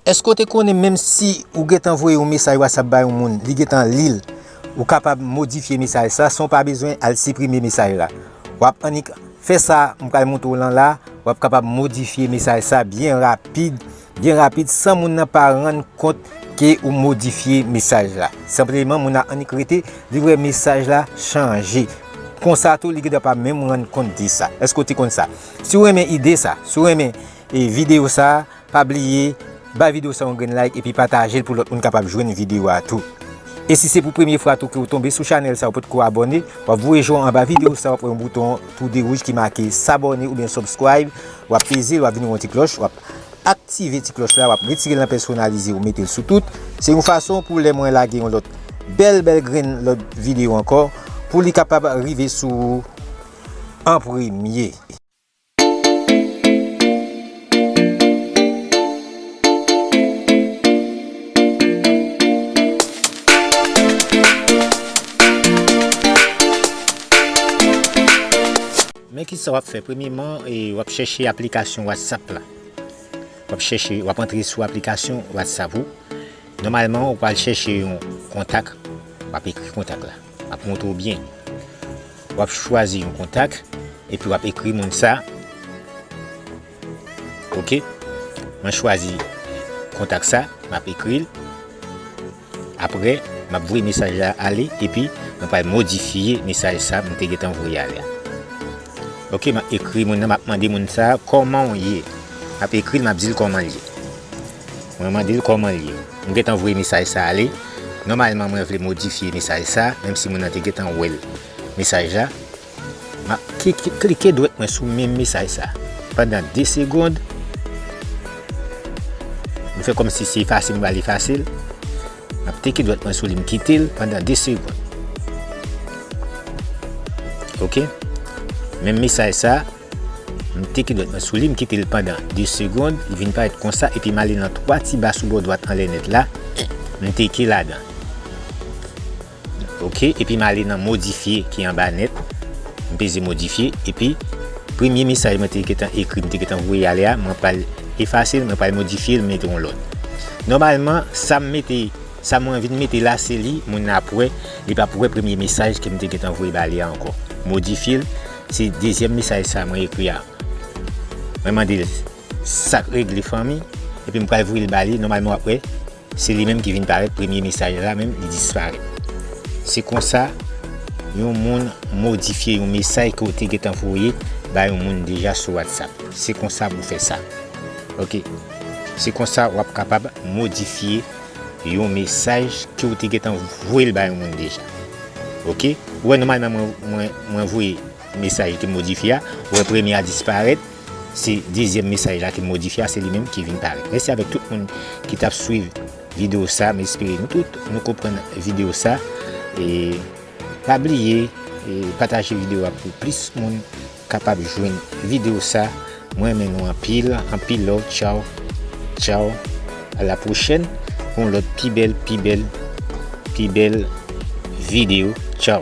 Èske w te konnen menm si ou gen tan voye yon mesaj WhatsApp ba yon moun li gen tan li l, ou kapab modifye mesaj sa san w pa bezwen al siprime mesaj la. W ap annik fè sa m pral montre w lan la, w ap kapab modifye mesaj sa byen rapid Gen rapid san moun nan pa rann kont ke ou modifye mesaj la. Senpleman moun nan annik rete, li wè mesaj la chanje. Konsa tou li gendwa pa menm rann kont de sa. Eske ou te konn sa? Si ou renmen ide sa, si ou renmen video sa, pa bliye bay video sa yon grenn like epi patajel pou lòt moun kapab jwenn video a tou. E si se pou premye fwa tou ke ou tonbe sou chanèl sa ou potko abòne, wap voye je w anba video sa wap wè yon bouton tou de wouj ki make s'abonner oubyen subscribe, wap peze l wap vini wè yon ti klòch wap. Aktive ti klòch la wap retire l nan pèsonalize ou mete l sou tout, se yon fason pou lè mwen lage yon lòt bèl bèl grenn lòt video ankò pou li kapab rive sou ou an premye. Men kisa wap fè premyeman wap chèche aplikasyon whatsapp la wap chèche wap antre sou aplikasyon whatsapp ou nòmalman ou pral chèche yon kontak wap ekri kontak la map montre ou byen wap chwazi yon kontak epi wap ekri moun sa ok mwen chwazi kontak sa map ekril Apre, m ap voye mesaj la ale epi mwen pral modifye mesaj sa m te gentan voye ale a. Ok, m ap ekri moun nan, m ap mande moun sa a, Kòman w ye? M ap ekri l, m ap di l kòman l ye. Mwen mande l kòman l ye. M gentan voye mesaj sa ale. Nòmalman mwen vle modifye mesaj sa, menm si moun nan te gentan wè l, mesaj la. M ap klike dwèt mwen sou menm mesaj sa pandan 2 segond. M fè kòm si se efase m pral efase l. M ap teke dwèt mwen sou li m kite l pandan 2 segond. Ok. Menm mesaj sa, m teke dwèt mwen sou li m kite l pandan 2 segond. Li vin parèt konsa epi m ale nan 3 ti ba sou bò dwat anlè nèt la. M teke ladan. Ok epi m ale nan modifye ki anba nèt m peze modifye epi premye mesaj mwen te gentan ekri m te gentan voye ale a mwen pral efase l mwen pral modifye l mete yon lòt nòmalman sa m mete sa mwen vin mete la se li moun nan ap wè li pap wè premye mesaj ke m te gentan voye ba li a ankò modifye l se dezyèm mesaj sa mwen ekri a mwen mande l sak regle fanmi epi m pral voye l ba li nòmalman w ap wè. Se li menm ki vin parèt premye mesaj la menm li disparèt. Se konsa yon moun modifye yon mesaj ke w te gentan voye bay yon moun deja sou WhatsApp. Se konsa pou fè sa. Ok. Se konsa wap kapab modifye yon mesaj ke w te gentan voye l bay yon moun deja. Ok. Ou wè nòmalman mwen voye mesaj ki modifye a. Ou wè premye a disparèt. Se dezyèm mesaj la ki modifye a se li menm ki vin parèt. Mèsi avèk tout moun ki tap swiv video sa m espere nou tout nou konprann video sa e pa bliye pataje video a pou plis moun kapab jwenn video sa m renmen nou anpil anpil love tchaw tchaw a la pwochèn pou yon lòt pi bèl pi bèl pi bèl video tchaw.